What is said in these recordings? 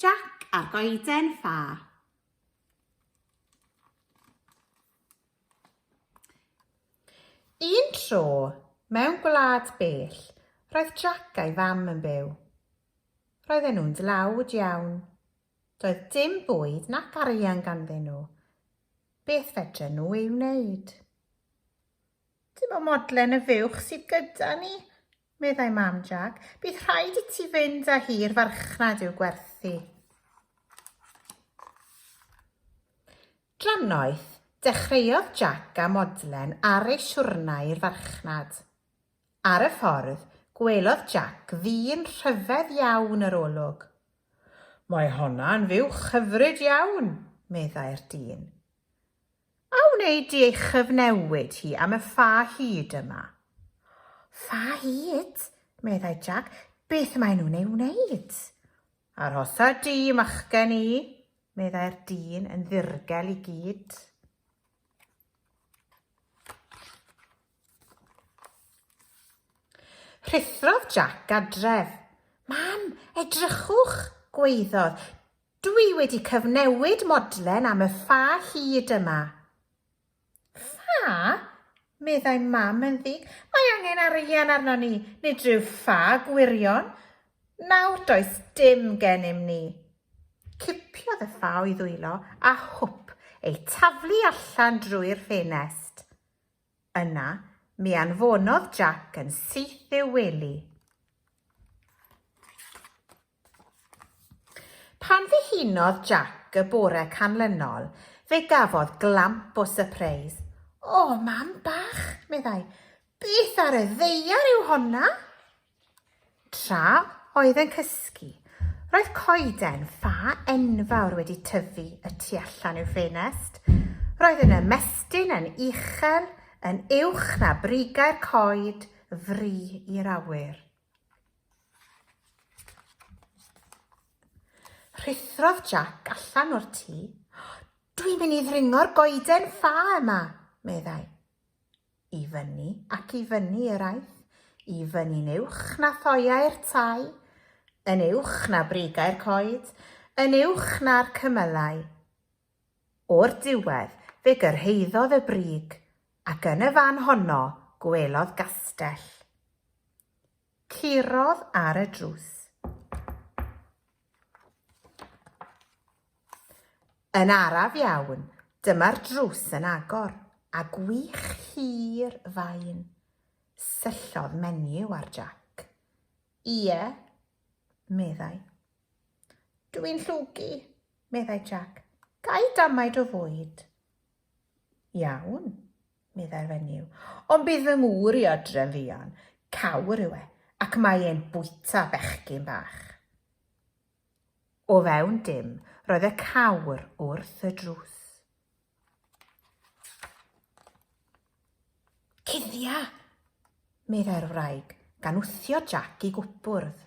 Jac a'r goeden ffa. Un tro, mewn gwlad bell, roedd Jac a'i fam yn byw. Roedden nhw'n dlawd iawn. Doedd dim bwyd nac arian ganddyn nhw. Beth fedren nhw ei wneud? Dim ond modlen y fuwch sydd gyda ni, meddai Mam Jac. Bydd rhaid i ti fynd â hi i'r farchnad i'w gwerthu. Dra noeth, dechreuodd Jac â modlen ar ei siwrna i'r farchnad. Ar y ffordd, gwelodd Jac ddyn rhyfedd iawn yr olwg. Mae honna'n fuwch hyfryd iawn, meddai'r dyn. A wneud i ei chyfnewid hi am y ffa hud yma. Ffa hud? meddai Jac. Beth maen nhw'n ei wneud? Arhosa di, machgen i, meddai'r dyn yn ddirgel i gyd. Rhuthrodd Jac adref. Mam, edrychwch, gweiddodd. Dwi wedi cyfnewid modlen am y ffa hyd yma. Ffa? meddai Mam yn ddig. Mae angen arian arnon ni, nid rhyw ffa gwirion. Nawr does dim gennym ni. Cipiodd y ffa o'i ddwylo a hwp, ei taflu allan drwy'r ffenest. Yna, mi anfonodd Jac yn syth i'w wely. Pan ddihunodd Jac y bore canlynol, fe gafodd glamp o sypreis. O, mam bach! meddai. Beth ar y ddaear yw honna? Tra oedd yn cysgu, roedd coeden ffa enfawr wedi tyfu y tu allan i'w ffenest. Roedd yn ymestyn yn uchel, yn uwch na brigau'r coed, fri i'r awyr. Rhuthrodd Jac allan o'r tŷ. Dwi'n mynd i ddringo'r goeden ffa yma, meddai. I fyny ac i fyny yr aeth, i fyny'n uwch na thoeau'r tai, yn uwch na brigau'r coed, yn uwch na'r cymylau. O'r diwedd fe gyrhaeddodd y brig, ac yn y fan honno gwelodd gastell. Curodd ar y drws. Yn araf iawn, dyma'r drws yn agor, a gwych hir fain. Syllodd menyw ar Jack. Ie, meddai. Dw i'n llwgu, meddai Jack. Gai damaid o fwyd? Iawn, meddai'r fenyw, ond bydd fy ngŵr i adre'n fuan, cawr yw e, ac mae e'n bwyta bechgyn bach. O fewn dim, roedd y cawr wrth y drws. Cuddia! meddai'r wraig, gan wthio Jac i gwpwrdd.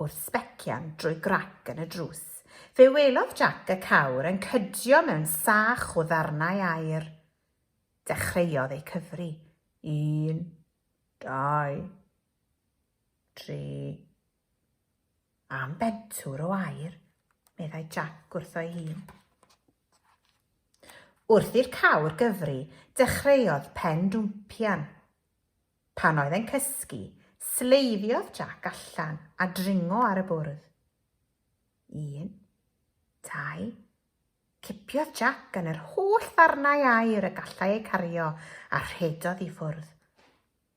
wrth sbecian drwy grac yn y drws, fe welodd Jac y cawr yn cydio mewn sach o ddarnau aer. Dechreuodd eu cyfri. Un, dau, tri. Am bentwr o aer, meddai Jac wrtho'i hun. Wrth i'r cawr gyfri, dechreuodd pen dwmpian. Pan oedd e'n cysgu, sleifiodd Jac allan a dringo ar y bwrdd. Un. Dau. Cipiodd Jac yn yr holl ddarnau aer y gallai eu cario a rhedodd i ffwrdd.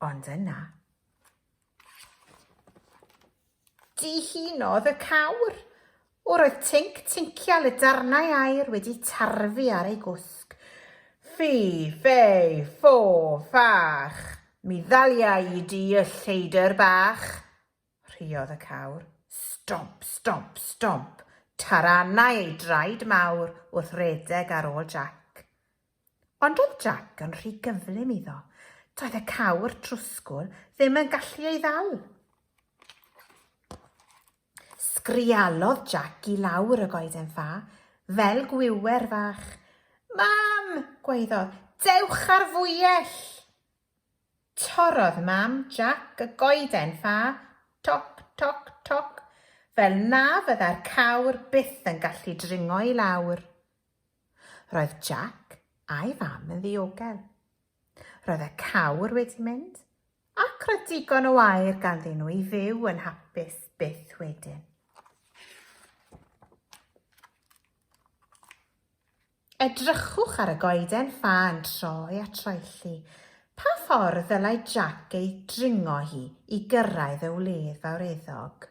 Ond yna. Dihunodd y cawr. Yr oedd tinc tincial y darnau aer wedi tarfu ar ei gwsg. Ffi, ffei, ffo, ffach! Mi ddalia i di y lleidr bach! rhuodd y cawr. Stomp, stomp, stomp! Taranai ei draed mawr wrth redeg ar ôl Jac. Ond oedd Jac yn rhy gyflym iddo. Doedd y cawr trwsgwl ddim yn gallu ei ddal. Sgrialodd Jac i lawr y goeden ffa, fel gwiwer fach. Mam! gwaeddodd. Dewch ar fwyell! Torrodd Mam Jac y goeden ffa, toc, toc, toc, fel na fyddai'r cawr byth yn gallu dringo i lawr. Roedd Jac a'i fam yn ddiogel. Roedd y cawr wedi mynd, ac roedd digon o air ganddyn nhw i fyw yn hapus byth wedyn. Edrychwch ar y goeden ffa yn troi a troelli. Pa ffordd ddylai Jack ei dringo hi i gyrraedd y wledd fawreddog?